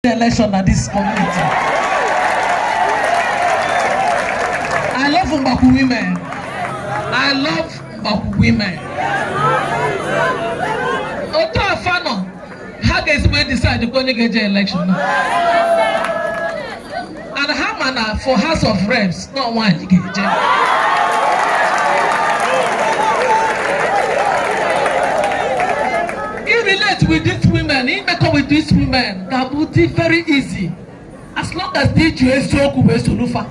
election na this community. I love Mgbakwu women. I love Mgbakwu women. Otu a fa nọ, ha ga-easily decide onye ga-eje election. and ha ma na for House of Reps na ọ nwaanyị ga-eje irelate with these women imekọ with these women ga-abụ dị very easy as long as i ji eziokwu wee solu fa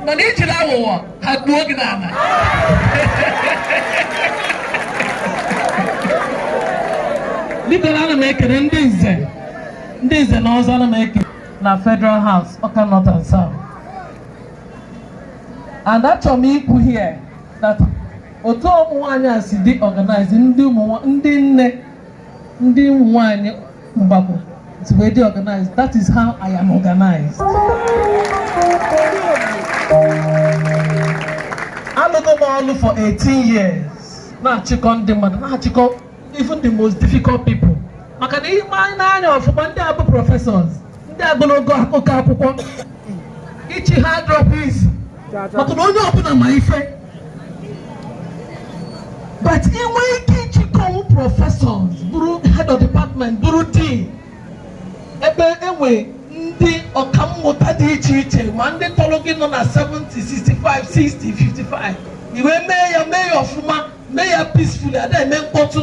mana i jiri aghụghọ ha gbuo gị n'ala biko ana m ekele ndị nze ndị nze na ọzọ ana m eje na Federal House Ọka North and South and achọrọ m ikwu here that otu ụmụ nwaanyị a si dị organized ndị ndị nne ndị ụmụ nwaanyị Mgbakwu si wee dị organized that is how I am organized alụgo m ọlụ for 18 years na-achịkọ ndị mmadụ na-achịkọ even the most difficult people maka na i nee anya ọfụma ndị a bụ professors ndị agụlụgo oke akwụkwọ ịchị ha adịrọ easy maka na onye ọbụla ma ife but inwe ike ịchịkọnwu professors bụrụ head of department bụrụ dean ebe e nwe ndị ọkammụta dị iche iche ma ndị tọrọ gị nọ na 70 65 60 55 i wee mee ya mee ya ọfụma mee ya peacefully ada eme mkpọtụ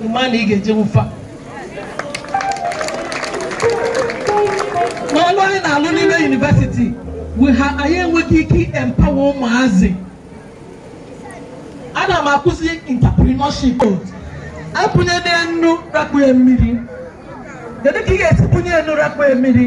ị ma na ị ga-ejinwu fa n'ọlụ anyị na-alụ n'ime university ha anyị enweghị ike empower ụmụazị ana m akụzi entrepreneurship apụnye n'enu rakpue mmiri kedu ka ị ga-esi pụnye enu rakpue mmiri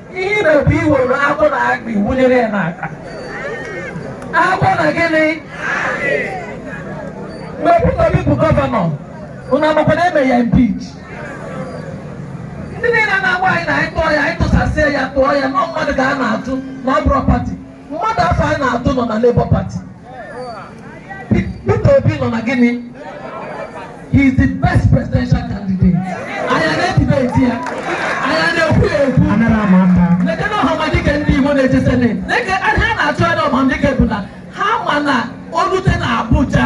ihe ị na-ebu i were agwọ na akpị wụnyere ya n'aka agwọ na gịnị mgbe Peter Obi bụ gọvanọ unu amakwa na e me ya impeach ndị niile na-agwa anyị na anyị tụọ ya anyị tụsasịa ya tụọ ya na ọ mmadụ ka a na-atụ na ọ bụrọ party mmadụ afụ anyị na-atụ nọ na Labour Party Peter Obi nọ na gịnị he is the best presidential candidate anyị na-edebate ya anyị na-ekwu ya ekwu lekene Ọhamadike ndị Igbo na-eje senate leke ha na-achụ anya Ọhamadike bụ na ha ma na o lute na Abuja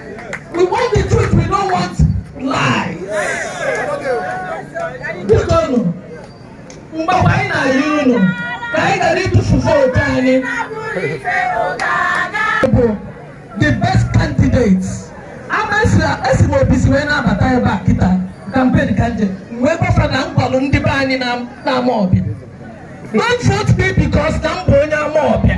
We want the truth, we don't want lies. Biko nụ, mgbe anyị na-ayọ unu ka anyị ghara ịtụfu vootu anyị bụ the best candidates. Ama esi m obi si wee na-abata ebe a kịta kampen ka m je wee gwa fa na m gwalụ ndị be anyị n'Amawbia. Don't vote me because na m bụ onye Amawbia.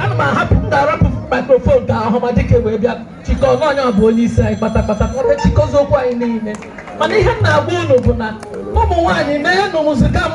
ana m ahapụ na-arapụ microphone ka Ọhamadike wee bịa chịkọọ onye bụ onye isi anyị kpatakpata kpata chịkọzie okwu anyị niile mana ihe m na-agwa unu bụ na ụmụ nwaanyị mee nụ mụzika m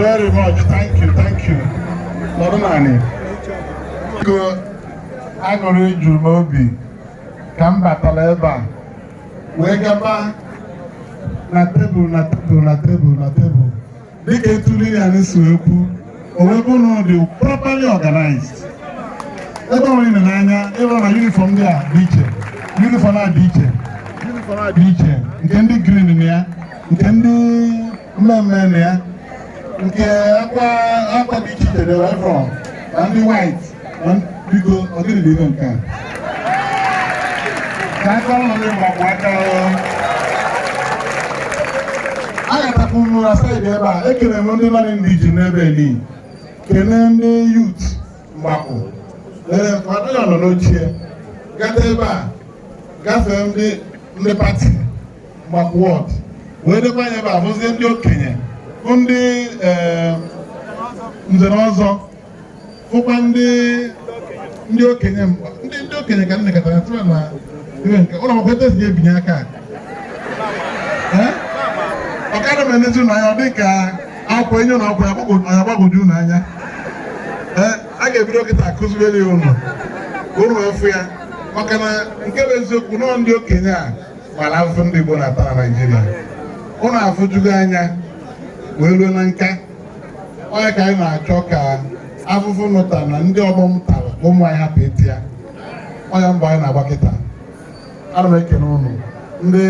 very much. Thank you, thank you. Nọrọ nụ anị. Biko aṅụrị juru m obi ka m batara ebe a wee gaba na tebụl na tebụl na tebụl na tebụl dịka etu Lilian si wee kwuo o wee bụrụ na ọ dị properly organized ebe ọbụna i nenee anya ị fụ na yunifọm ndị a dị iche yunifọm a dị iche yunifọm a dị iche nke ndị green na ya nke ndị mmee mmee na ya nke akwa akwa dị iche iche wee ruo na ndị white biko ọ gịnị bụ ife nke a ka aka ọrụ ndị mgbakọ aka a ga-atapụ nnu na saịdị ebe a ekele m ndị mmadụ ndị ji n'ebe ni kene ndị yut mgbakọ lere mmadụ ya nọ n'ochie gata ebe a gafee ndị ndị pati mgbakọ wọd wee lekwa anya ebe a bụzie ndị okenye bụ ndị nze na ọzọ fụkwa ndị ndị okenye mkpa ndị ndị okenye ka nne katara tụrụ na iwe nke ụlọ akwụkwọ etu esi ebinye aka ọ ka m na-enezi unu anya ọ dị ka akwụkwọ e nye unu akwụkwọ ya gbagwoju unu anya a ga-ebido kịta kuzibere unu unu afụ ya maka na nke bụ eziokwu unu ndị okenye a mara afụfụ ndị Igbo na-ata na Naịjirịa unu afụjugo anya wee ruo na nka ọ ya ka anyị na-achọ ka afụfụ ụnụ ta na ndị ọgbọ m tara ka ụmụ anyị hapụ ịta ya ọ ya mbọ anyị na-agba kịta ana m ekele ụnụ ndị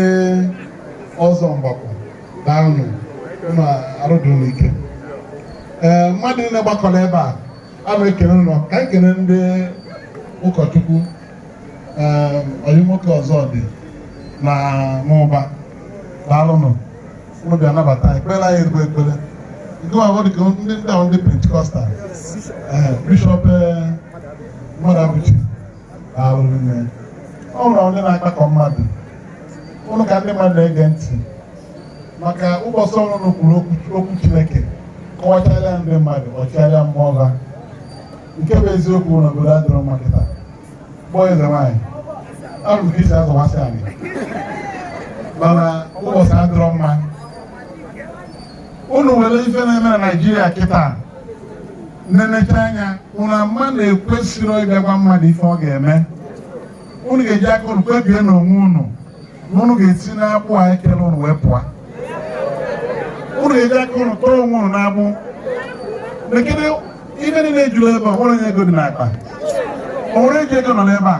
ọzọ mgbakọ daalụnụ ụnụ arụ dụ ụnụ ike ee mmadụ niile gbakọrọ ebe a ana m ekele ụnụ ka anyị kele ndị ụkọchukwu ee ọyị m nwoke ọzọ dị na n'ụba daalụnụ unu bịa nabata anyị kpere anyị ezigbo ekpere nke ma dị ka ndị ndị ahụ ndị pentikọstal ee bishọp ee, Mmadụabụchi daalụ rinne ọ nwere onye na-akpakọ mmadụ ụnụ ka ndị mmadụ na-ege ntị maka ụbọchị ụnụ kwuru okwu- okwu chineke kọwacharịa ndị mmadụ ọ chịgharịa mmụọ ha nke bụ eziokwu na obodo adịrọ mma kịta kpọọ eze nwaanyị abụ ka isi azọwasị anyị mana ụbọchị adịrọ mma unu were ife na-eme na naijiria kịta nenecha anya unu ama na ekwesịrọ ịbịa gwa mmadụ ife ọ ga-eme unu ga-eji aka unu kpebie n'onwe unu na unu ga-esi n'agbụ a e kere unu wee pụọ unu ga-eji aka unu tọọ onwe unu n'agbụ ibe niile ejuru ebe a o nwere onye ego dị n'akpa o nwere onye ji ego nọ n'ebe a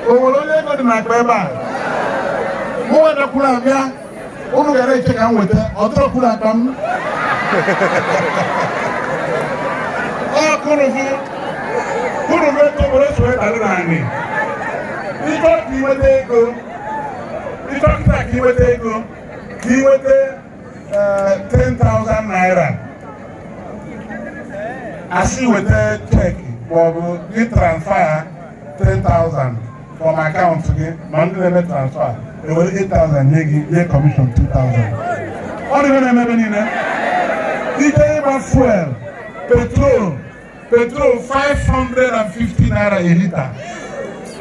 o nwere onye ego dị n'akpa ebe a mụ wedakwuru abịa unu gara eche ka m weta ọ dọrọkwuru akpa m ọ kụrụ gị kụrụ gị ego were so ịdara n'anị ị chọọ ka i nweta ego ị chọọ kịta ka i nweta ego ka inweta 10,000 naira a sị weta cheki maọbụ gị transfa 10,000 from akaụntụ gị ma ndị na-eme transfa e were 8,000 nye gị nye kọmishọn 2,000 ụdị ife na-eme ebe niile i je ịgba fuel petrol petrol 550 naira a lita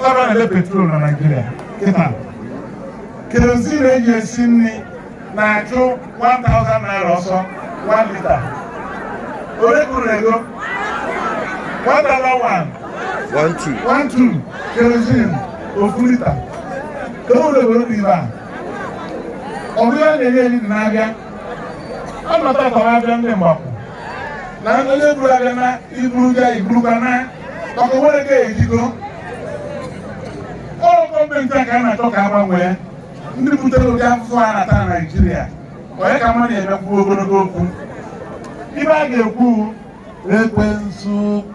ọnụ a na-ele petrol na Naịjirịa kịta kerozin e ji esi nri na-achụ 1000 naira ọsọ 1 lita ole kwuru ego 1001 12 kerozin ofu lita ka o were were bụ ibe a ọ bụrụ na-enye eri na-abịa ọ nọta ka ọ abịa ndị mgbapụ na onye buru abịa na iburu ga iburukwa na maka o nwerọ nke ji ego ọ gọọmenti a ka a na-achọ ka a gbanwee ndị butere ụdị afụfụ a na-ata na naijiria onye ka mmadụ emekwu ogologo okwu ibe a ga-ekwu ekwensu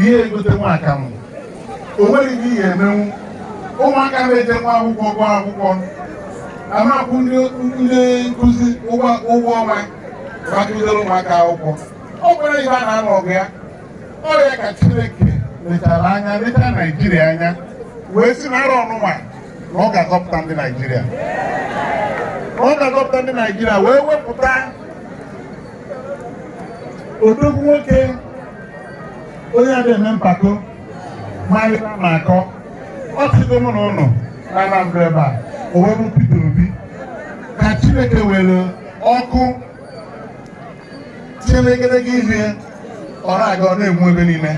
ihe egote nwa akamụ o nweghị ihe emenwu ụmụaka na-eje nwa akwụkwọ gụọ akwụkwọ ama akwụ ndị nkụzi ụgwọ ọnwa ma kụzere ụmụaka akwụkwọ ọ bụrụ ihe a na-anụ ọgụ ya ọ ya ka Chineke lechara anya lecha Naijiria anya wee si na arọ ọnụnwa na ọ ga-azọpụta ndị Naijiria ọ ga-azọpụta ndị Naijiria wee wepụta odogwu nwoke onye ada eme mpako marịta ma akọ ọ chịgo mụ na ụnụ na Anambra ebe a o wee bụ Peter Obi ka Chineke were ọkụ tinye n'egedege ihu ya ọ na-aga ọ na-enwu ebe niile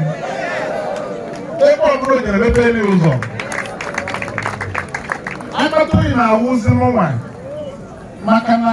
ebe ọbụla o jere mepeelu ụzọ akpata oyi na-awụzi mụnwa maka na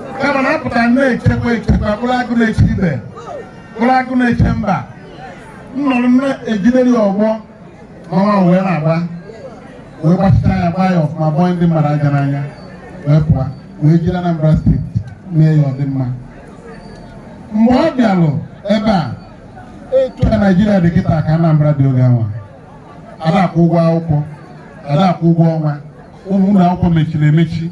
kama na apụtara na-echekwa echekwa bụrụ agụ na-eche ibe bụrụ agụ na-eche mba nnọrọ na-ejideri ọgbọ mama wee na-agba wee gbachita ya gbaa ya ọfụma bọọ ndị mmadụ aja n'anya wee pụọ wee jiri Anambra steeti mee ya ọdịmma mgbe ọ bịalụ ebe a etu a Naijiria dị kịta ka Anambra dị oge anwa ada akwụ ụgwọ akwụkwọ ada akwụ ụgwọ ọnwa ụmụ ụlọ akwụkwọ mechiri emechi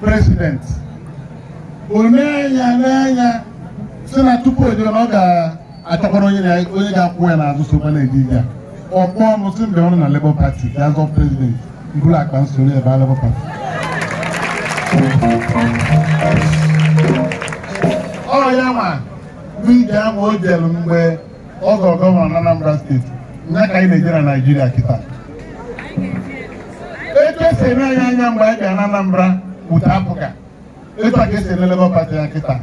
president o nee anya n'anya si na tupu ọ zọọ na ọ ga-achọkwara onye ga-akwụ ya n'azụ sokwa na-eje ije a. ọ kpọọ m si mgbe ọ nọ na labour party ga azọ president m buru akpa m soro ya baa labour party ọ ya nwa bụ ije ahụ o jere mgbe ọ zọrọ gọvanọ na Anambra steeti nya ka anyị na-eje na Naịjirịa kịta etu esi ene anyị anya mgbe anyị bịa na Anambra bute APGA etu a ka esi ene Labour Party anya kịta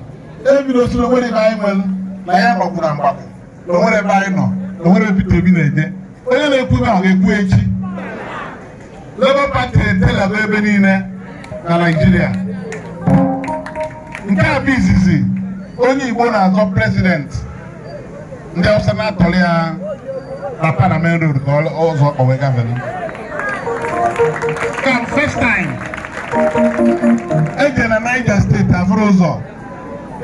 ebido si na o nwerọ ebe anyị nwere na ya gbagbu na mgbagbu na o nwerọ ebe anyị nọ na o nwerọ ebe Peter Obi na-eje onye na-ekwu ebe ahụ ga-ekwu echi Labour Party etelaba ebe niile na Naịjirịa nke a bụ izizi onye Igbo na-azọ president ndị Hausa na-atọrọ ya wrapper na main road n'ụzọ ka o wee gavelu ka first time eje na Niger steeti afụrọ ụzọ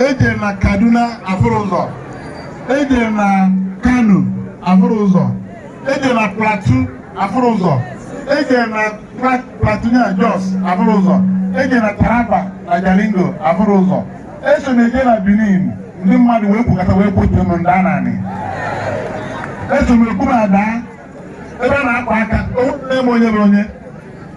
eje na Kaduna afụrọ ụzọ eje na Kano afụrọ ụzọ eje na Plateau afụrọ ụzọ eje na Plateau na Jos afụrọ ụzọ eje na Taraba na Jalingo afụrọ ụzọ eso na eje na Benin ndị mmadụ wee kwukọta wee kpọtụ m ndị ananị eso m ekwu m ada ebe a na-akpa aka o nwere m onye bụ onye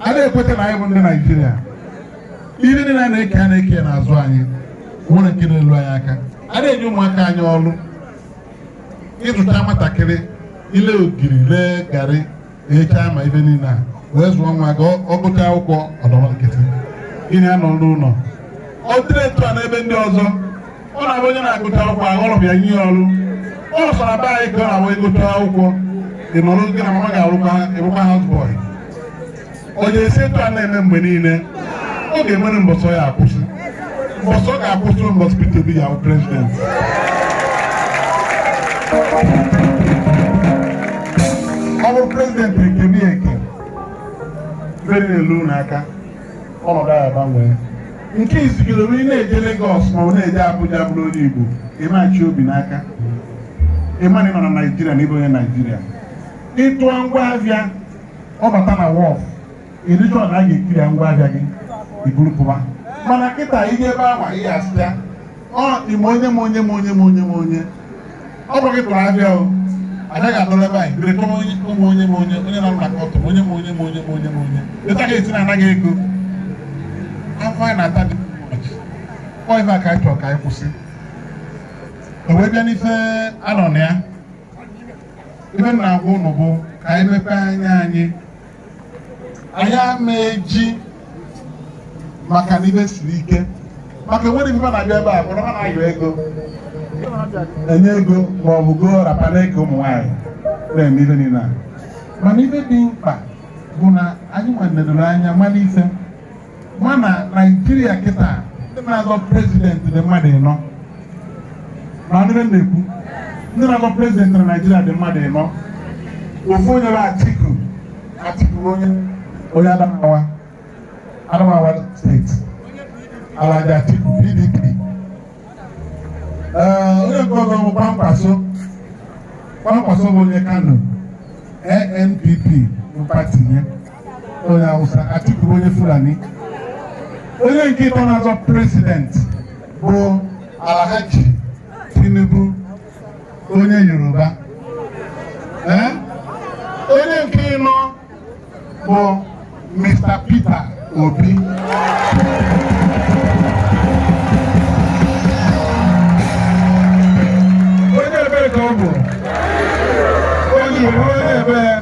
a dị ekweta na anyị bụ ndị naijiria ihe niile a na-eke a na-eke n'azụ anyị nwere nke na-elu anyị aka a dị enye ụmụaka anyị ọrụ ị zụta nwatakịrị i lee ogiri lee garị echa ma ive niile e wee zụọ nwa gị ọ gụta akwụkwọ ọ nọrọ nkịtị gị na ya nọ n'ụlọ ọ dịrọ etu a n'ebe ndị ọzọ ọ na-abụ onye na-agụta akwụkwọ a kpọrọ ya nye ọrụ ọ sọ na be anyị ka ọ na-abụ ị gụta akwụkwọ ị nọrọ gị na mama ga-arụkwa ị rụkwa house boy ọ ya-esi etu a na-eme mgbe niile ọ ga-enwere mbọsị ọ ya-akwụsị mbọsị ọ ga-akwụsị mbọsị Peter Obi ya-abụ prezident ọ bụrụ prezident e kebe eke ive na-elu n'aka ọnọdụ a gbanwee nke izizi onye na-eje Lagos ma ọ na-eje Abuja bụrụ onye Igbo ị ma-achị obi n'aka ị ma na ị nọ na Naijiria na ị bụ onye Naijiria ị tụọ ngwa ahịa ọ bata na wharf ị dị sure na a ga-eclear ngwa ahịa gị i buru pụwa mana kịta ị gaa ebe ahụ ị ga-asị ya ọ ime onye ma onye ma onye ma onye ma onye ọ bụ gị tụrụ ahịa o anaghị atụrụ ebe anyị bere tụrụ onye ụmụ onye ma onye onye na-arụ maka ọtụ onye ma onye ma onye ma onye ma onye later a ga-esi na-ana gị ego afụfụ anyị na-ata dị ọ ife a ka anyị chọrọ ka anyị kwụsị e wee bịa n'ife a nọ na ya ife m na-agwa ụnụ bụ ka anyị mepee anya anyị anyị ama eji maka na ive siri ike maka e nwere ive na-abịa ebe a bụrụ ha na-ayọ ego e nye ego ma ọ bụ goo wrapper na-eke ụmụ nwaanyị na-eme ive niile a mana ive dị mkpa bụ na anyị nwa nedoro anya mara ife mana naijiria kịta ndị na-azọ prezident dị mmadụ ịnọ na ndị m na-ekwu ndị na-azọ prezident na naijiria dị mmadụ ịnọ ofu onye bụ atiku atiku onye onye adamawa adamawa steeti alhaji atiku pdp ee onye nke ọzọ bụ kwankwaso kwankwaso bụ onye kano ANPP bụ pati ya onye Hausa Atiku bụ onye Fulani onye nke ịtọ na-azọ prezident bụ Alhaji Tinubu onye Yoruba ee onye nke ịnọ bụ Mr. Peter Obi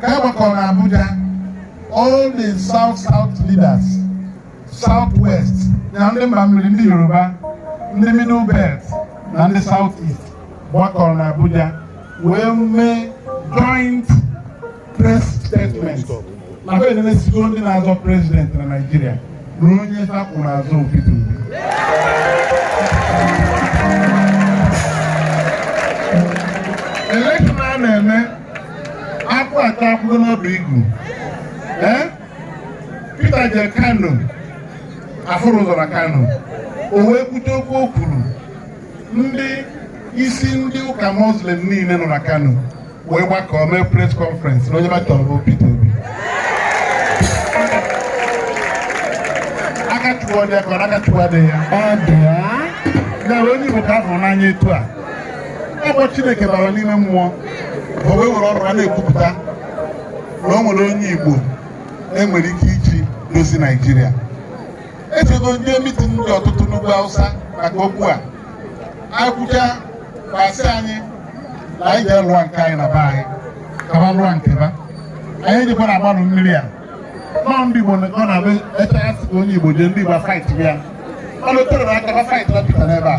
ka a gbakọrọ na Abuja all the south south leaders south west na ndị mba mmiri ndị Yoruba ndị middle belt na ndị south east gbakọrọ na Abuja wee mee joint press statement na fa enenesigo ndị na-azọ president na Naịjirịa na onye fa kwụ n'azụ ọ Peter Obi akwụ achakwago n'ọdụ igu ee Peter jee Kano afụrọ ụzọ na Kano o wee kwute okwu o kwuru ndị isi ndị ụka muslim niile nọ na Kano wee gbakọọ mee press conference na onye ba chọrọ bụ Peter Obi aka chụwa dị ya ka ọ aka chụwa dị ya ya onye Igbo ka a hụrụ n'anya etu a ọ bụ Chineke bara n'ime mmụọ o wee were ọnụ ha na-ekwupụta na o nwere onye Igbo e nwere ike iji dozi Naijiria echego ndị mitin dị ọtụtụ n'ugwu Hausa maka okwu a e kwuchaa ba sị anyị na anyị jee lụọ nke anyị na be anyị ka ba lụọ nke ba anyị ejekwana agbarụ mmiri a na ndị Igbo ọ na-abụ echa asị ka onye Igbo jee ndị Igbo fight ya na o tere aka ba fightiba Peter n'ebe a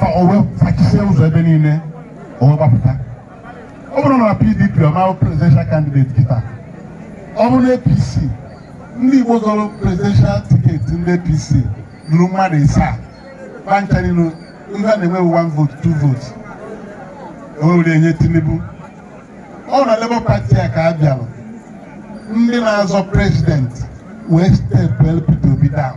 ka o wee fachisie ụzọ ebe niile o wee gbapụta ọ bụrụ na PDP ọ ma-abụ presidential candidate kịta ọ bụrụ na APC ndị Igbo zọrọ presidential tiketi ndị APC luru mmadụ ịsaa ba ncha niile ndị a na-enwe one vote two votes ewere enye Tinubu ọ na Labour Party a ka a bịara ndị na-azọ prezidenti wee stepụlụ Peter Obi down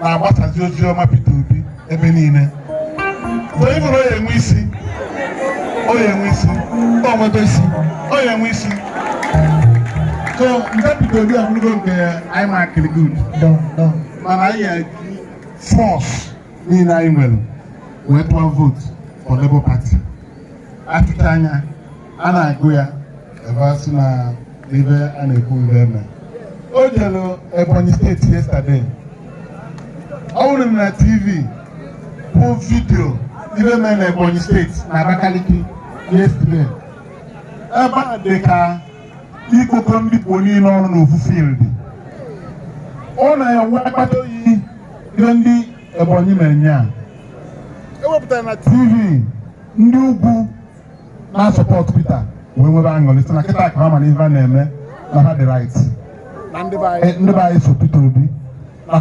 na-agbasazi ozi ọma Peter Obi ebe niile mgbe ị bụrụ onye nwe isi onye nwe isi o nwebe isi onye nwe isi so nke Peter Obi abụrụgo nke anyị markịrị good mana anyị ga-eji force niile anyị nwere wee tụọ vote for Labour Party a tụchaa ya a na-agụ ya ebe a sị na ihe a na-ekwu ebe eme o jere Ebonyi steeti yesterday a hụrụ m na TV bụ vidio ihe mere na Ebonyi steeti na Abakaliki yesterday ebe a dị ka ịkpọkọ ndị Igbo niile ọnụ n'ofu field ọ na-eme akpata oyi ihe ndị Ebonyi mere nya ewepụtara na TV ndị ugwu na-asọpọt Peter wee nwebe aṅụrị sị na kịta ka ha ma na ife a na-eme na ha dị right ndị be anyị so Peter Obi na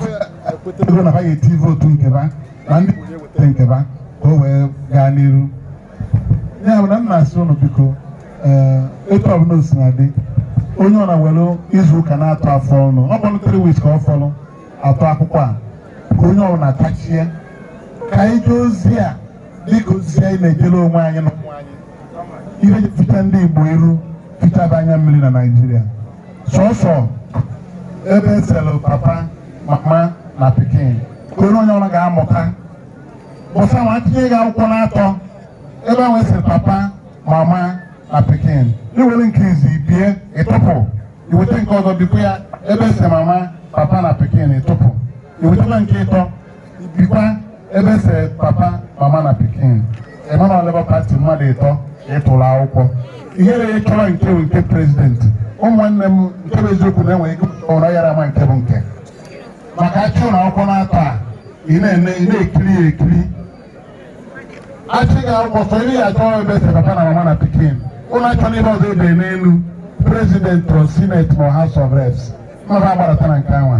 ekwetego na ha ga-eti vootu nke ba na ndị weta nke ba ka o wee gaa n'iru ya bụ na m na-asị ụnụ biko etu ọbụla o sina dị onye ọbụla were izu ụka n'atọ a fọrọnụ ọ bụrụ three weeks ka ọ fọrọ a tụọ akwụkwọ a ka onye ọbụla tachie ka anyị jee ozi a dịka ozi anyị na-ejere onwe anyị na ụmụ anyị iji fichaa ndị Igbo iru fichaa ba anya mmiri na Naịjirịa sọsọ ebe e sere papa mama na pikin ka onye ọbụla ga-amụta bụsa ma tinye gị akwụkwọ n'atọ ebe ahụ e sere papa mama na pikin i were nke izi bie ị tụpụ i weta nke ọzọ bikwa ya ebe e sere mama papa na pikin ị tụpụ i wetakwa nke ịtọ i bikwa ebe e se papa mama na pikin ị ma na Labour Party mmadụ ịtọ ị tụrụ akwụkwọ ihere ịchọrọ nke bụ nke prezidenti ụmụnne m nke bụ eziokwu na enweghị ụra yara ma nke bụ nke maka a chịnye ụnụ akwụkwọ n'atọ a ị na-eme ị na-ekiri ya ekiri a chị gị akwụkwọ sọ ihe ị ya-achọ ebe e se papa na mama na pikin ụnụ achọna ebe ọzọ e dere n'elu prezidenti or senate or house of reps mmadụ agbaratara nke anwa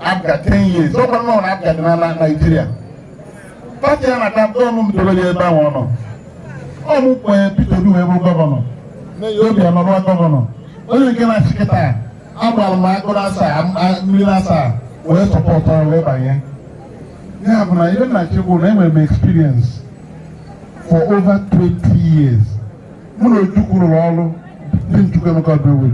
APGA 10 years ọkwa nnọọ na APGA dị n'ala Naijiria pati ya na-ata mkpụrụ ọ mụ dobere ya ebe ahụ ọ nọ ọ mụ kwenye Peter Obi wee bụ gọvanọ Obiano bụrụ gọvanọ onye nke na-achị kịta agbara m agụ asaa m- a- mmiri asaa wee sọpọtụ ya wee banye ya bụ na ihe m na-asị bụ na enwere m experience for over 20 years mụ na Ojukwu rụrụ ọrụ Dim Chukwuemeka Ojukwu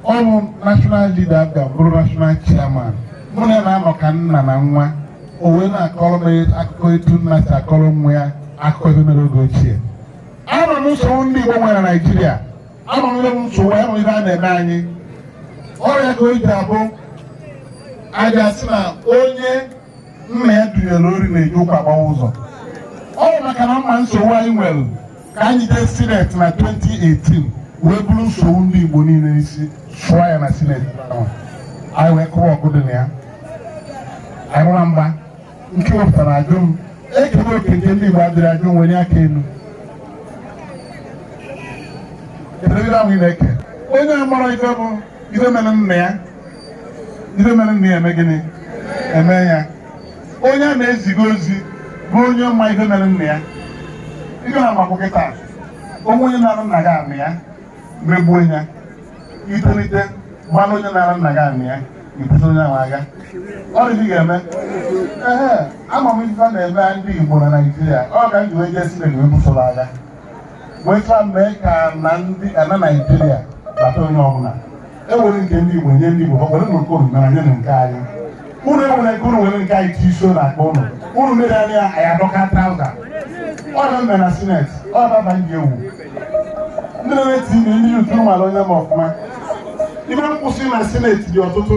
ọ bụ national leader APGA m bụrụ national chairman mụ na ya na-anọ ka nna na nwa o wee na-akọrọ m akụkọ etu nna si akọrọ nwa ya akụkọ ife mere oge ochie ama m nsogbu ndị Igbo nwere na Naịjirịa ama m nsogbu ya nwere a na-eme anyị ọ ya ka o ji abụ a ja-asị na onye nna ya dunyere ori na-eji ụkwụ agbawa ụzọ ọ bụ maka na m ma nsogbu anyị nwere ka anyị ji jee sineti na 2018 wee buru nsogbu ndị Igbo niile n'isi sụọ ya na sineti ahụ anyị wee kụwa ọgụ dị na ya anyị gbara mgba nke wepụtara ajụ m e kebe oke nke ndị Igbo adịrọ ajụ m welie aka elu kedụ ife ahụ ị na-eke onye amarọ ife bụ ife mere nna ya ife mere nna ya emee gịnị emee ya onye a na-eziga ozi bụ onye ma ihe mere nna ya ihe na makwụ kịta o nwee onye narụ nna gị anị ya megbuo ya i tolite malụ onye narụ nna gị anị ya i buso onye ahụ agha ọ dị ga-eme ee ama m ife na-eme ndị Igbo na Naịjirịa ọ ka m ji wee jee Sineti wee busoro agha wee chọọ mee ka na ndị ana Naịjirịa bata onye ọbụla e were nke ndị Igbo nye ndị Igbo ha nwere na nke unu mere nye na nke anyị unu ewere nke unu were nke anyị tii so na akpa unu unu mere anyị ya anyị adọka trauza ọ na mme na sineti ọ baba ndị ewu ndị na-eti ime na YouTube mara onye m ọfụma ife m kwusi na sineti dị ọtụtụ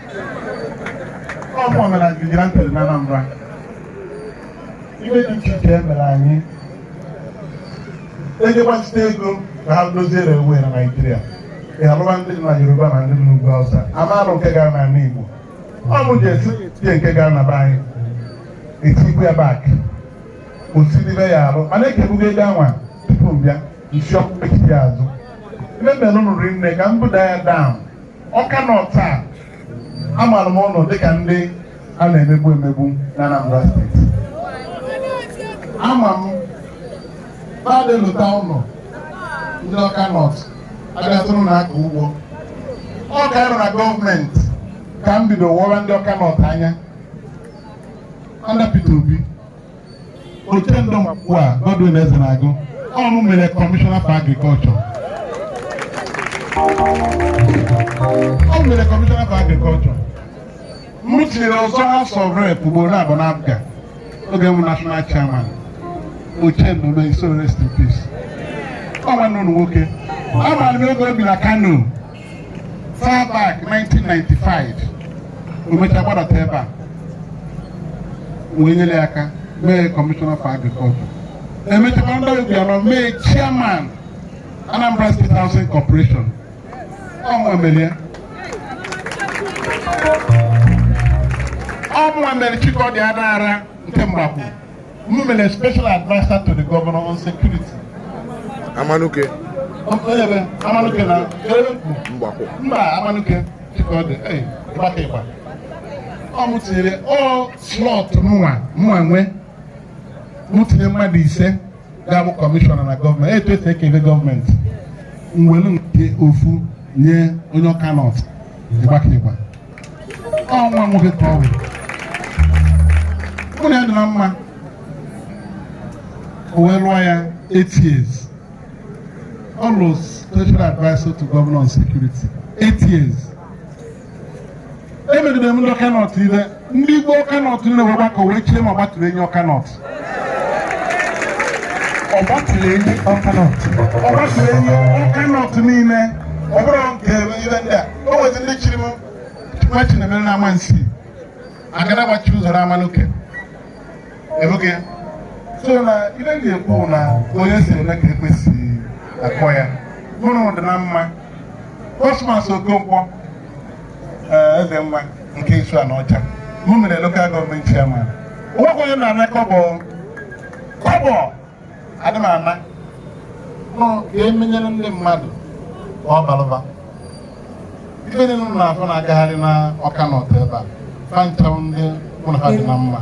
ọ mụ mere vigilante na Anambra ife dị iche iche e mere anyị e jee gbazite ego ka ha dozie railway na Naịjirịa a lụwa ndị dị na Yoruba na ndị dị n'ugwu Hausa a ma-alụ nke gara n'ala Igbo ọ bụ ji esi tie nke gara na be anyị etikwu ya back osiribe ya arụ mana ekebugo ego anwa tupu m bịa m sị ọkpụkpechite ya azụ ife m mere ụnụ rinne ka m buda ya down Awka North amaara m unu dịka ndị a na-emegbu emegbu na Anambra steeti ama m badị lụta unu ndị Awka North abịatụrụ na-akọ ugbo ọ ka anyị ru na gọọmenti ka m bido wọwa ndị Awka North anya under Peter Obi Ochendo Mkwa Godwin Ezenagu ọ mụ mere kọmishọna for agriculture ọ m mere kọmishọna for agriculture m tinye ya ịzọ House of Rep ugboro abụọ na APGA oge m national chairman Ochendo may his soul rest in peace ọ nwanne unu nwoke amaara m oge o bi na Kano far back 1995 o mecha gbadata ebe a wee nyere ya aka mee kọmishọna for agriculture e mechakwa ndị Obiano mee chairman Anambra State Housing Corporation ọ mụwa mere ya ọ mụwa mere Chikọdị Anara nke Mgbakwu M mere special adviser to the governor on security. Amanuke. Amanuke na Mgbakwu. Mba Amanuke Chikọdị ịgbaka ịgba. Ọ mụ tinyere ọ slot mụnwa mụnwa nwe mụ tinye mmadụ ise ga-abụ kọmishọna na gọọmenti etu e si ekele gọọmenti m welu nke ofu nye onye Awka North ịgbaka ịgba. ọnwa nwoke ka ọ bụ mụ na ya dị na mma o wee lụọ ya eight years ọ lụrụ special adviser to governor on security eight years emegide m ndị Awka North ile ndị igwe Awka North niile wee gbakọ wee chie m ọgbatụrụ enyi Awka North ọgbatụlụenyi Awka North ọgbatụlụenyi Awka North niile ọ bụrụ nke ibe ndị a o nwezi ndị chiri m nwa chinemere na Amansea agada gbachi ụzọ na Amanuke ebuke ya so na ibe ndị ekwu na onye si eme ka ekwesị akọ ya mụrụ dị na mma Cosmas Okonkwo eh, eze nwa nke Isuaniocha m mere local government chairman o nwekwa onye na-ana kọbọ kọbọ adị m ana nọ ka emenyere ndị mmadụ ka ọ balụ ụba ife ndị unu na-afụ na-agagharị na Awka North ebe a fa ncha bụ ndị mụ na ha dị na mma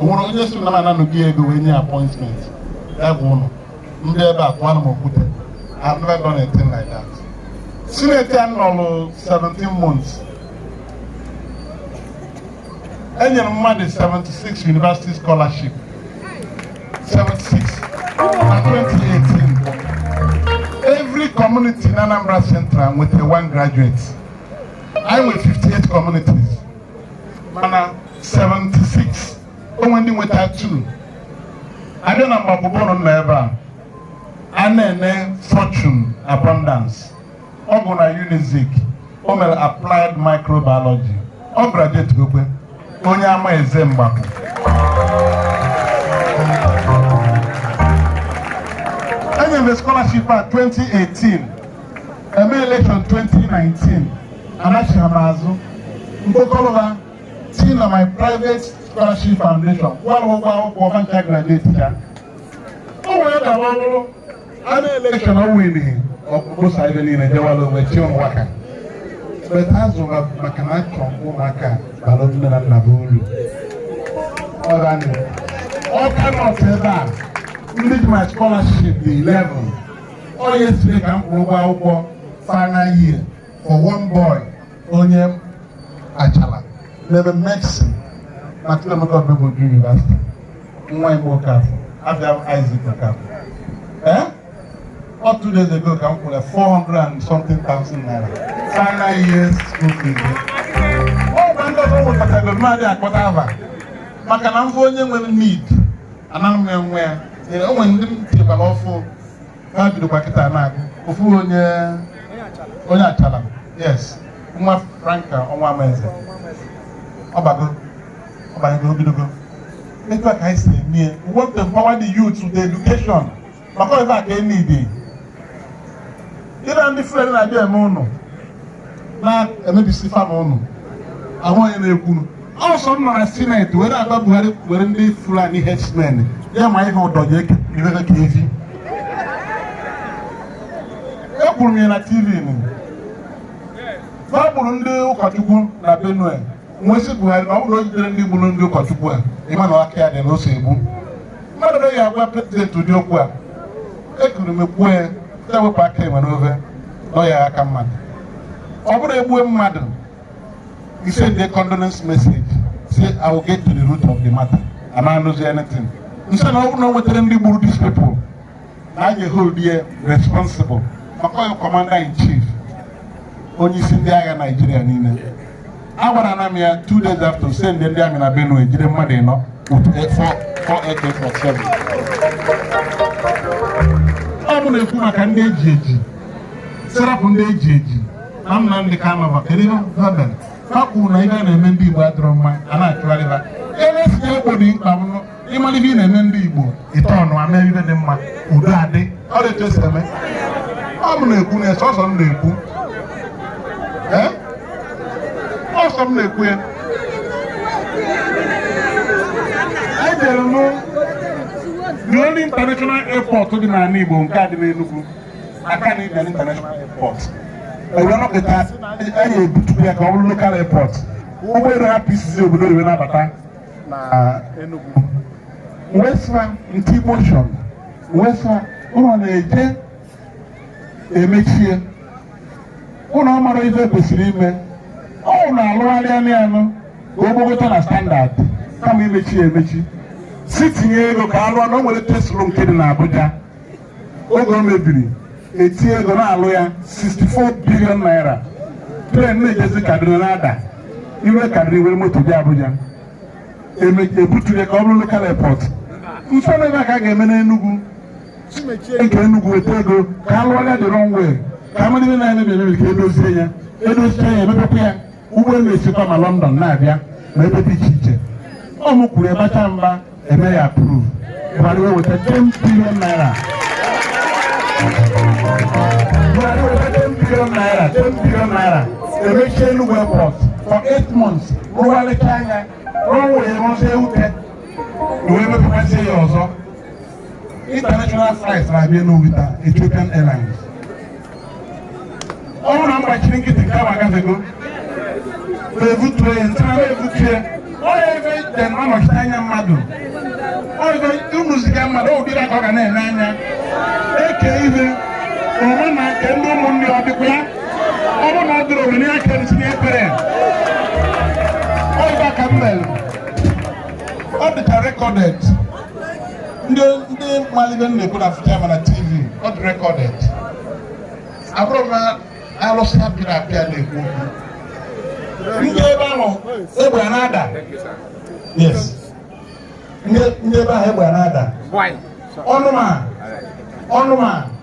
o nwere onye sị na m nalụ gị ego wee nye appointment ya gwa unu ndị ebe a tụwanụ m okwute I've never done a thing like that Senate a nọrụ 17 months enyere m mmadụ 76 university scholarship 76 na 2018 every community in Anambra Central nweta one graduate e nwere 58 communities mana 76 o nwe ndị nweta two abịa na Mgbakwu ọ bụrụ na ọ nọ ebe a Anene Fortune Abundance ọ gụrụ na Unizik o mere applied microbiology ọ graduate gokwe onye Amaeze Mgbakwu enyere m scholarship a 2018 eme election 2019 anachighị m azụ mkpokọrọ ha si na my private scholarship foundation kwụọrọ ụgwọ akwụkwọ ha ncha graduate ya o nwere ka ọ bụrụ a na election o were ọkpụkpụsa ebe niile jewala onwe chi ụmụaka beta azụra maka na achọ m ụmụaka bara nne na nna bụ uru Awka North ebe a ndị ji my scholarship dị 11 ọ yesterday ka m kwụrụ ụgwọ akwụkwọ final year for one boy onye Achalla na-eme medicine na Chukwuemeka Odumegwu University nwa Igbo Okafọ afa ya Isaac Okafọ ee eh? ọ two days ago ka m kwụrụ 400 and something thousand naira final year school fees ọ gwa ndị ọzọ nwetatago mmadụ akpọta ava maka na m fụ onye nwere need ana m enwe ya o nwere ndị m tinyebara ọfụ ka ha bidokwa kịta na-agụ ofu onye onye achala yes nwa franca ọ nwa amaeze ọ bago ọ banyego o bidogo etu a ka anyị si eme ya we want to empower the youth with education maka ọzọ a ka e need ịna ndị fulani na-abịa eme ụnụ na-emebisi farm ụnụ ahụ onye na-ekwuru ọsọ m nọ na senate were agwa buhari were ndị fulani herdsmen ya manye ụdọ ya irere ka efi ekwuru m ya na tv nụ na ọ gburu ndị ụkọchukwu na benue m wee sị buhari na ọ bụrụ o jiderọ ndị gburu ndị ụkọchukwu a ị ma na aka ya dị na o so egbu mmadụ na ya agwa president ụdị okwu a ekuru m kwuo ya ewepụ aka enwe n'ofe na o yi aka mmadụ ọ bụrụ e gbue mmadụ He sent the condolence message. Say, I will get to the root of the matter. A na-anụzi anything. M sị ya ọ bụrụ na o weterọ ndị gburu these people. Na a je-ehold ya responsible. Maka ọ ya commander in chief. Onye isi ndị agha Naijiria niile. A gwara na m ya two days after o send ndị army na Benue e jide mmadụ ịnọ with AK-47. Ọ mụ na-ekwu maka ndị e ji eji. Sị rapụ ndị e ji eji. na Nnamdị Kanụ fa kedu ihe ha mere ha kwuru na ihe a na-eme ndị Igbo adịrọ mma a na-achụgharị fa elesi egbo dị mkpa bụrụ ị mara ihe ị na-eme ndị Igbo ite ọnụ e mee ife dị mma udo adị ọ dị etu e si eme ọ mụ na-ekwu na sọsọ m na-ekwu ee ọsọ m na-ekwu ya ejere m the only international airport dị n'ala Igbo nke a dị n'Enugu Akanu Ibiam international airport e were nọkịta anyị ebutukwu ya ka ọ bụrụ local airport ụgbọelu hapụ isizi obodo oyibo na-abata na Enugu m wee sị fa nke motion m wee sị fa unu na-eje emechie unu mara ife kwesịrị ime ọ na-alụgharị ya alụ ka o gbogota na standard kama imechi ya emechi sị tinye ego ka a lụọ na o nwere etu e si lụọ nke dị n'Abuja oge o mebiri e tinye ego na-alụ ya 64 billion naira plane na-ejezi kaduna na-ada i rue kaduna i were moto bịa abuja e buturọ ya ka ọ bụrụ local airport m sị fa na ife a ka a ga-eme n'enugwu nke enugwu weta ego ka a lụọ ya the runway ka a mara ife na-emebi emebi ka e dozie ya edozie ya e mepekwa ya ụgbọelu na-esikwa ma London na-abịa na ebe dị iche iche ọ mụ kwuru ebacha mba e mee ya approve Buhari wee weta 10 billion naira Buhari weta 10 billion naira 10 billion naira emechie Enugu airport for 8 months rụgharịchaa ya rụọ wee rụzie ute wee mepekwazie ya ọzọ international flights na-abịa Enugu taa Ethiopian Airlines ọ bụrụ na m gbachiri nkịtị nke ahụ agafego ma ebutuo ya ntara ma ebutu ya ọ na-ebe ite na ọ nọchite anya mmadụ ọ ebe unu ziga mmadụ ọ ụdịrị aka ọ ga na-eme a na-eke ihe onwe na nke ndị ụmụnne ọ dịkwa ya ọ bụrụ na ọ dịrọ onwe ya kere si n'ekpere ọ ihe a ka m mere ọ dịcha recorded ndị ndị malụ ive m na-ekwu na-afụcha m na tv ọ dị recorded abụrọ m alụsị a pịrị apịa na-ekwu okwu ndị ebe ahụ egbe a na-ada yes ndị ndị ebe ahụ egbe a na-ada ọnụma ọnụma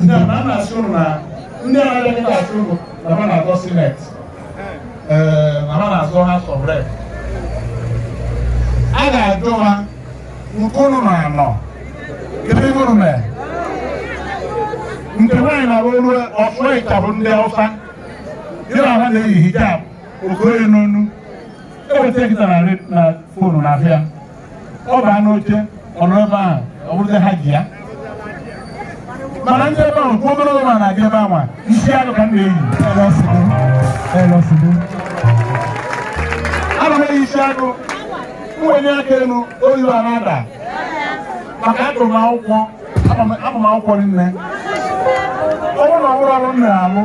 ndị a na-asị ụnụ na ndị a na-abịa kịta asị ụnụ na ha na-azọ senate ee na ha na-azọ House of Rep a ga-ajụ ha nke ụnụ na anọ kedu ihe ụnụ mee nke nwaanyị na-arụ ọlụ ọfụ ịchabụ ndị ọfa gị na ha na-eyi hijab o koye n'onu eweta kịta na fonu na-abịa ọ baa n'oche ọ nọ ebe ahụ ọ bụrụzi Hajia mana m jee ebe ahụ kwuo ogologo ma na-adị ebe anwa isi agụ ka m na-eyi ana m eyi isi agụ m wenie aka elu oyibo ana-ada maka agụ m akwụkwọ akwụkwọ nne ọ bụrụ na ọ bụrụ ọrụ m na-alụ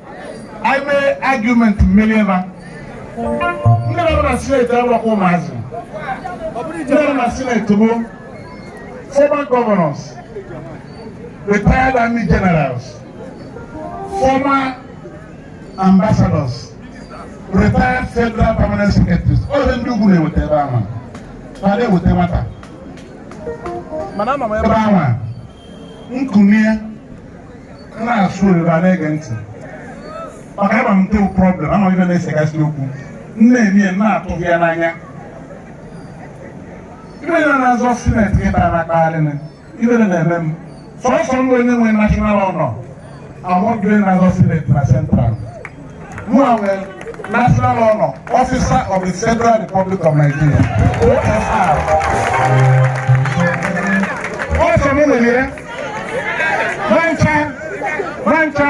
anyị mee argument m merie ha ndị nọ na senate abụrọkwa ụmụazị ndị nọ na senate bụ former governors retired army generals former ambassadors retired federal permanent secretaries ọ ndị ndị ugwu na-eweta ebe ahụ ma na-eweta nwata mana m baa ebe ahụ m kunie na-asụ oyibo a na-ege ntị maka ama m the problem ama m ive na-esegasị okwu nne m ya na-atụ ya n'anya ive na-azọ senate kịta na-akpagharị m ive na-eme m sọsọ mụwa nwe national honor among ndị a na-azọ senate na central mụwa nwere national honor officer of the federal republic of nigeria ofr ọ sọ m nwere ya ha ncha ha ncha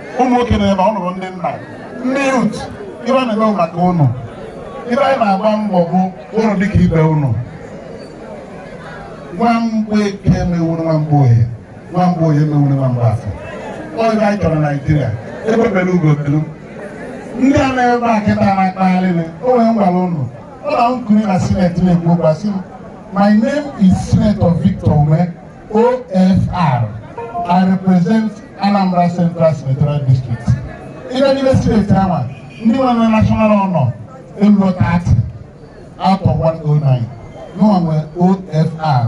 ụmụ nwoke na ebe ụnụ bụ ndị nna ndị yut ive a na-eme maka ụnụ ive anyị na-agba mbọ bụ ụnụ dịka ibe ụnụ nwa mgbe eke mewuru nwa mgbe oye nwa mgbe oye mewuru nwa mgbe afọ ọ ive anyị chọrọ naijiria egbe bere ugo belu ndị a na-ebe a kịta na-akpagharị o nwere m gwara ụnụ ọ na m kulie na sineti na-ekwu okwu asị m my name is senator victor umeh OFR, I represent Anambra Central Senatorial District. Ịbịa n'ime sineti ahụ, ndị nwere national honor erurọ 30 out of 109. Mụnwa nwere OFR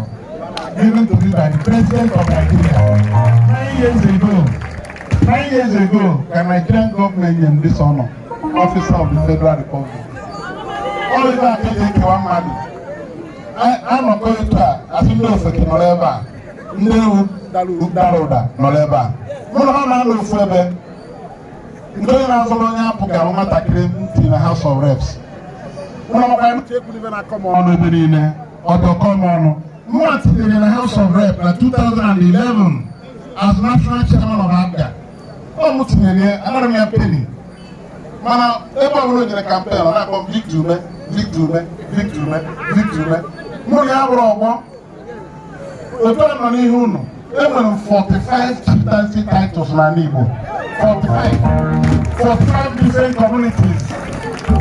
given to me by the president of Nigeria nine years ago. Nine years ago, ka Nigerian government nyere this honor, officer of the Federal Republic. All of that is a mmadụ. anọkọ etu a asị ndị ofeke nọrọ ebe a ndị ewu dara ụda nọrọ ebe a mụ na ha na-anọ ofu ebe ndị onye na-azọrọ onye APGA nwatakịrị m tinye na House of Reps mụ na ọkwa Uche Ekwunife na-akọ m ọnụ ebe niile ọdọkọ m ọnụ mụnwa tinyere ya na House of Reps na 2011 as national chairman of APGA ọ mụ tinyere ya anarọ m ya peni mana ebe ọ bụla o jere kampen ọ na-akpọ Victor Umeh Victor Umeh Victor Umeh Victor Umeh mụ na ya abụrọ ọgbọ otu a m nọ n'ihu unu enwere m 45 chieftaincy titles n'ala Igbo 45 45 different communities so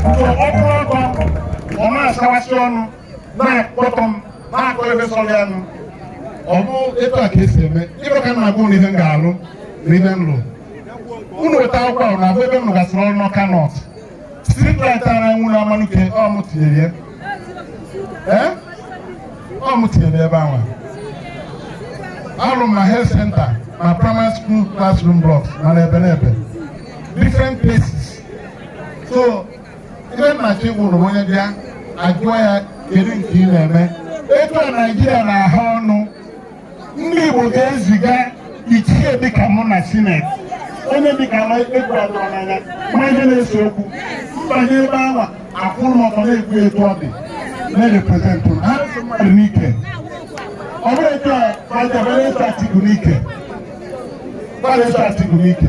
ọ bụrọ ọgbọ ọ na-asawasị ọnụ na-akpọtọ m na-akọ ive sọrọ ya nụ ọ bụ etu a ka esi eme ive m ka na-agwa unu ihe m ga-alụ na ive m lụrụ unu weta akwụkwọ ahụ na-agụ ebe m lụgasịrị ọrụ n'ọka nọt street light a na-enwu na amanuke ọ mụ tinyere ya ee ọ mụ tinyere ebe ahụ alụ m na health center na primary school classroom blocks mana ebe na ebe different places so ive m na-achọ ịgwa unu onye bịa ajụọ ya kedu nke ị na-eme etu a naijiria na-ahụ ọnụ ndị igbo ga-eziga ichie dịka mụ na sineti onye dịka m egwu adịrọ n'anya ma ihe na-ese okwu m banye ebe awa akwụrụ m ọtọ na-ekwu etu ọ dị na-reprezentụ m. ha so mmadụ n'ike ọ bụrụ etu a ma jabere eso atiku n'ike gbara eso atiku n'ike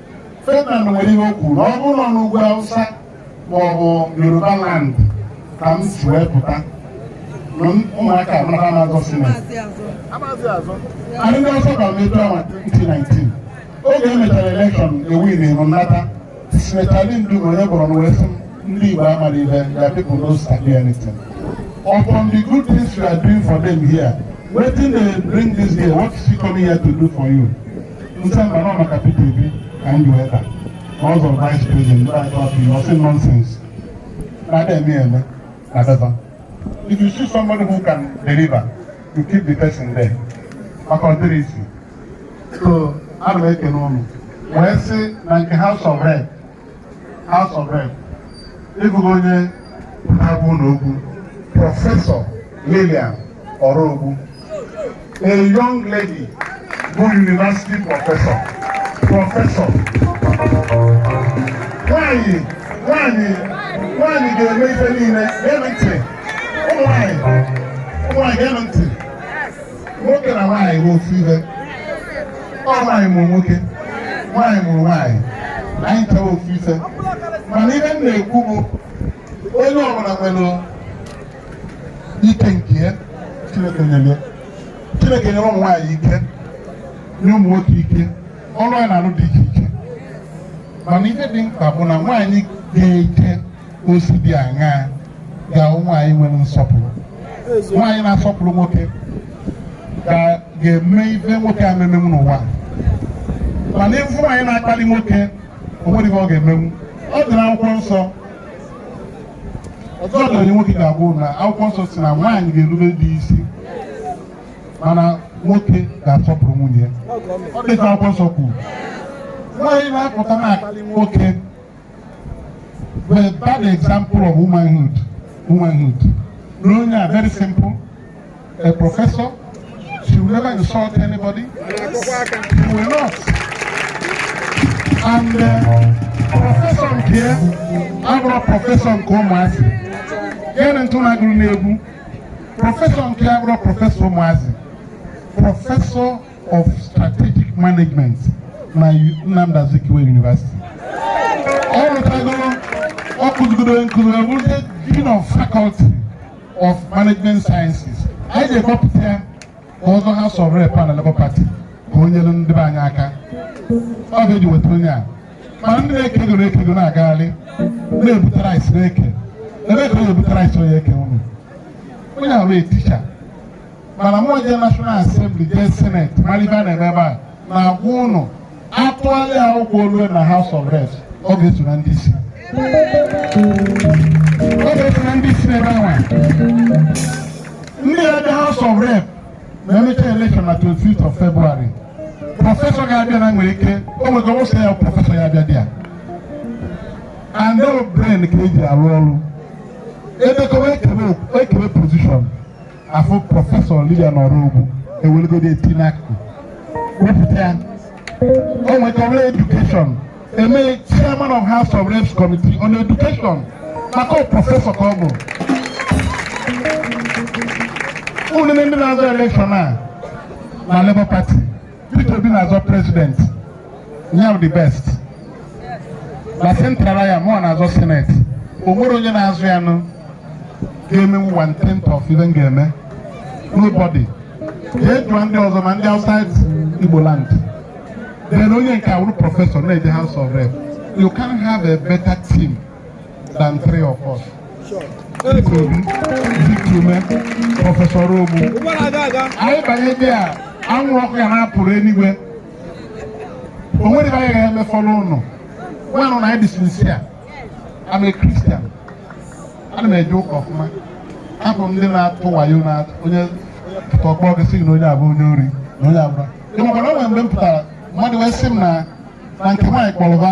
Ferdinand nwere ihe o kwuru na ọ bụrụ na ọ n'ugwu Hausa ma ọ bụ Yoruba land ka m si wee pụta na ụmụaka a m na ha ama-azọ sinet anyị ndị Hausa gwara m etu awa 2019 oge e mechara elekshọn ewinirọ m m nata sinetọ Ali Ndume onye Borno wee sị m ndị Igbo amarọ ihe your people no sabi anything upon the good things you are doing for them here wetin dey bring this here what is he coming here to do for you m sị mba na ọ maka Peter Obi ka m ji wee taa na ọ zọrọ vice president ndị anyị tọpụ na ọsị nonsense na ada eme eme na daba if you see somebody who can deliver you keep the person there maka ọ dịrị isi so ana m ekene ụnụ wee sị na nke house of rep House of Rep ị fụgo onye na-agwa ụnụ okwu Professor Lilian Orogbu a young lady bụ university professor professor nwanyị nwanyị nwanyị ga-eme ife niile ga-eme ntị ụmụ nwanyị ụmụ nwanyị ga-eme ntị nwoke na nwaanyị bụ ofu ife ọ nwaanyị mụrụ nwoke nwaanyị mụrụ nwaanyị anyị chọrọ ofu ife mana ihe m na-ekwu bụ onye ọbụla nwere ike nke ya chineke nyere ya chineke nyere ụmụ nwaanyị ike nye ụmụ nwoke ike ọrụ anyị na-alụ dị iche iche mana ihe dị mkpa bụ na nwaanyị ga-eje ozi dị aṅaa ga-abụ nwaanyị nwere nsọpụrụ nwaanyị na-asọpụrụ nwoke ga- ga-eme ife nwoke ama emenwu n'ụwa mana ị fụ nwaanyị na-akpalị nwoke o nwerọ ife ọ ga-emenwu ọ dị n'akwụkwọ nsọ ọzọ dịrị onye nwoke ga-agwa unu na akwụkwọ nsọ si na nwaanyị ga-erube di isi mana nwoke ga-asọpụrụ nwunye ya ọ dịka akwụkwọ nsọ kwuru nwaanyị na-apụta na-akpalị nwoke Bụ a bad example of womanhood. Onye a very simple. A professor. She will never insult anybody. She will not. And uh, professor nke ya abụrọ professor nke ụmụazị. Gịnị ntụ na-agụrụ n'egwu? Professor nke ya abụrọ professor ụmụazị. Professor of Strategic Management na Nnamdi Azikiwe University ọ rụtagoro ọ kụzigoro nkụzi ọ bụrụ Dean of Faculty of Management Sciences anyị ji kpọpụta ya ka ọ zọọ House of Rep na Labour Party ka o nyere ndị be anyị aka ọ ga-eji weta onye a ma ndị na-eke ego na-eke ego na-agagharị na-ebute rice na-eke ebe ka onye ebute rice eke unu onye a bụ teacher mana mụ jee National Assembly jee Senate malụ ife a na-eme ebe a na-agwa ụnụ a tụalị akwụkwọ o lue na House of Reps ọ ga-eso na ndị isi ọ ga-eso na ndị isi n'ebe anwa nya bịa House of Rep ma e mechaa election na 25th of February professor ga-abịa na nwere ike o nwere ike sị ya professor ya bịa there na ọ brain ka e ji arụ ọrụ edekọwa ekebe ekebe position afụ Professor Lilian Orogbu e welugodi ya tinye n'akụkụ wepụta ya o nwekọrọ education e mee chairman of house of reps committee on education maka ọ professor ka ọ bụ unu ma ndị na-azọ election a na Labour Party Peter Obi na-azọ president nya bụ the best na central area mụnwa na-azọ senate o nwerọ onye na-azọ ya nụ ga-eme one tenth of ihe m ga-eme nobody jee jụọ ndị ọzọ ma ndị outside Igbo land then onye nke a bụrụ professor na-eje house of rep you can't have a better team than three of us. Sure. Victor Umeh, Professor Orogbu. Anyị banye ndị a, anwụ ọkụ ya na-apụrụ eluigwe. O nwerọ ife anyị ga-eme fọlụ ụnụ. Manụ na anyị dị sincere. I'm a Christian. Ana m eje ụka ọfụma. Abụrọ m ndị na-atụ wayo na onye pụta ọ kpọọ gị sị na onye a bụ onye ori na onye abụla. Ị makwa na o nwere mgbe m pụtara mmadụ wee sị m na na nke nwaanyị kpọrọ ba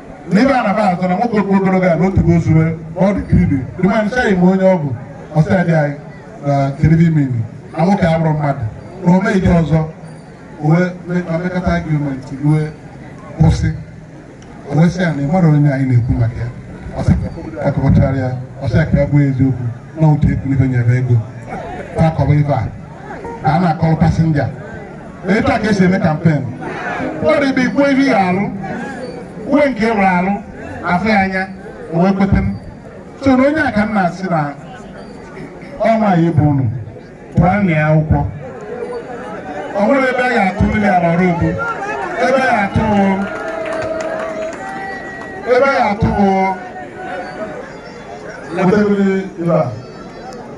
n'ebe a na-aba azụ na nwoke okpu ogologo a na otu bụ ozure ọ dị kiribi dị ma ncha ime onye ọ bụ ọsọ dị anyị na kiribi mmiri na nwoke abụrụ mmadụ na ome ije ọzọ e wee mekata argument wee kwụsị o wee sị ya na ị mara onye anyị na-ekwu maka ya akọkọtara ya ọ sị ka ya bụ eziokwu na otu ekwu n'ife nyere ego akọba ife a na a na-akọrọ passenger etu a ka e si eme campaign mmadụ ebe ikwu ihe ya arụ uwe nke e nwere arụ afụ ya anya o wee kweta m so na onye a ka m na-asị na ọnwa anyị bụ unu pụọ na ya akwụkwọ o nwere ebe a ga-atụ Lilian Orogbu ebe a ga-atụ ebe a ga-atụ Peter Obi ebe a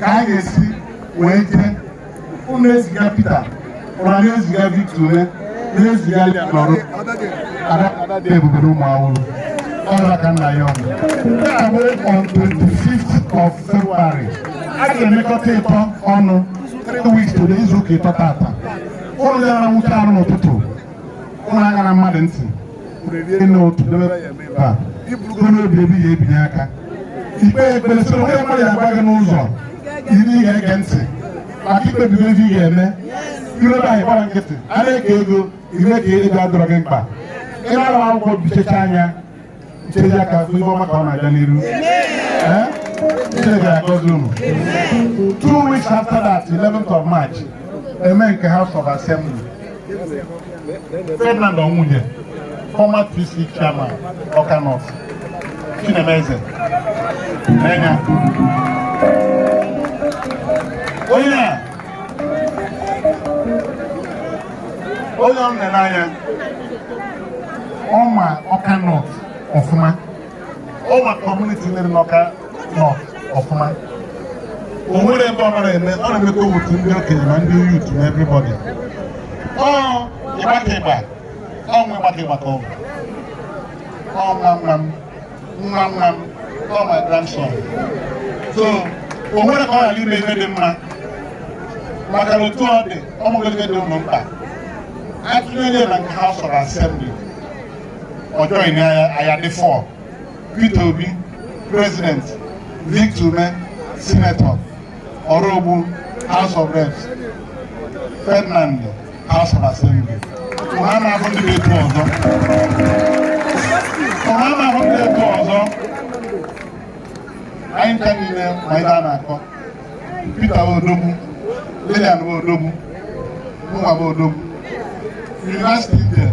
ka anyị ga-esi wee jee unu eziga Peter unu na-eziga Victor Umeh na-eziga ya n'ọrụ ada dị ebube na ụmụ awụrụ ọrụ aka nna ya ọnụ nke a bụ on 25th of February a ga-emekọta ịtọ ọnụ 3 weeks today izu ụka ịtọ taata unu awụcha arụ n'ụtụtụ unu aṅana mmadụ ntị i kpe ekpere soro onye mmadụ ya agwa gị n'ụzọ ndị ị ga-ege ntị maka i kpebigo ife ị ga-eme i rue ebe a ị gbara nkịtị a na-eke ego i mee ka ego adịrọ gị mkpa ị nalụ akwụkwọ bichecha anya nchereja ka ife ọma ka ọ na-aga n'iru Chineke agọzi unu two weeks after that 11th of March e mee nke House of Assembly Ferdinand Onwuje, former TC chairman, Awka North, Chinemeze, Nenya. Onye a, onye ọ nọ n'anya, ọ ma Awka North ọfụma. ọ ma community niile n'Awka North ọfụma o nwere ebe ọ nara eme ọ na-emekọ otu ndị okenye na ndị youth na everybody ọ ịgbaka ịgba ọ nwe ịgbaka ịgba ka ọ bụ ọ nwa nwa m nwa nwa m ọ my grandson so o nwere ka ọ ghara ime ihe dị mma maka na otu ọ dị ọ mụrụ ihe dị unu mkpa atụnyere na nke House of Assembly ọjọọ ìní aya dị four Peter Obi president Victor Umeh senator Orogbu House of Reps Ferdinand House of Assembly ụha na-ahụ ndị na-eto ọzọ anyị nka niile ma ihe a na-akọ Peter Odogwu Lilian Odogwu mụnwa Odogwu University there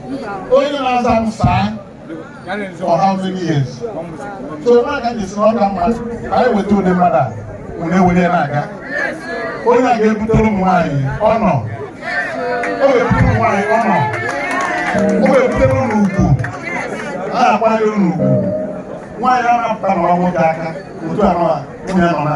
onye na-aza m sir for how many years so ebe a ka ji si na ọ ka mma ka anyị weta ụdị mmadụ a were were na-aga onye a ga-ebutere ụmụ nwaanyị ọṅụ ọ ga-ebutere ụmụ nwaanyị ọṅụ ọ ga-ebutere unu ugwu a na-akwanyere unu ugwu nwaanyị a na-apụta na ọnwụ gị aka otu anọ a nwunye nọ na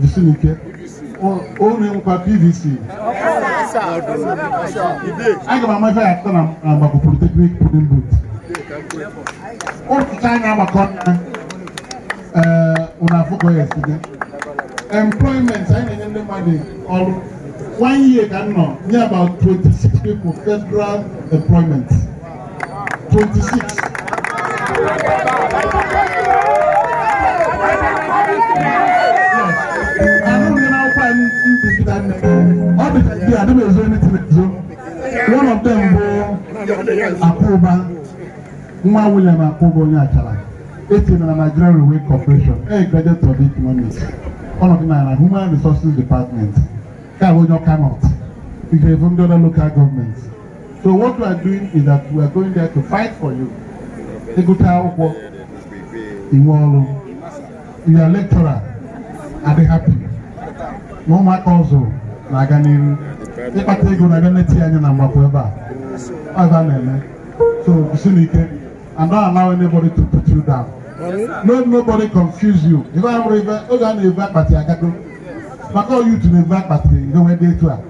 Jisinụ ike. Unu nwekwa PVC. Aga m ama ife ya atụ na Mgbakwu Polytechnic polling booth. A tụcha anyị na-agbakọ nna unu afụgo yesterday. Employment anyị na-enye ndị mmadụ ọrụ. One year ka m nọ nye about 26 people federal employment. Akụba nwa William Akụba onye Achalla e tinye na Nigerian Railway Corporation a graduate of economics ọ nọdụ na na Human Resources Department ka onye Awka North ị ga-ebu ndị other local government So what we are doing is that we are going there to fight for you. Ị gụcha akwụkwọ i nwee ọrụ ya lecturer adị happy na ụmụaka ọzọ na-aga n'ihu ị kpata ego na-aga neti anya na Mgbakwu ebe a ife a na-eme so jisinụ ike and don't allow anybody to put you down no nobody confuse you ife a bụrụ ife oge a na-ebu akpati agago maka oyutu na-ebu akpati ngewe dị etu a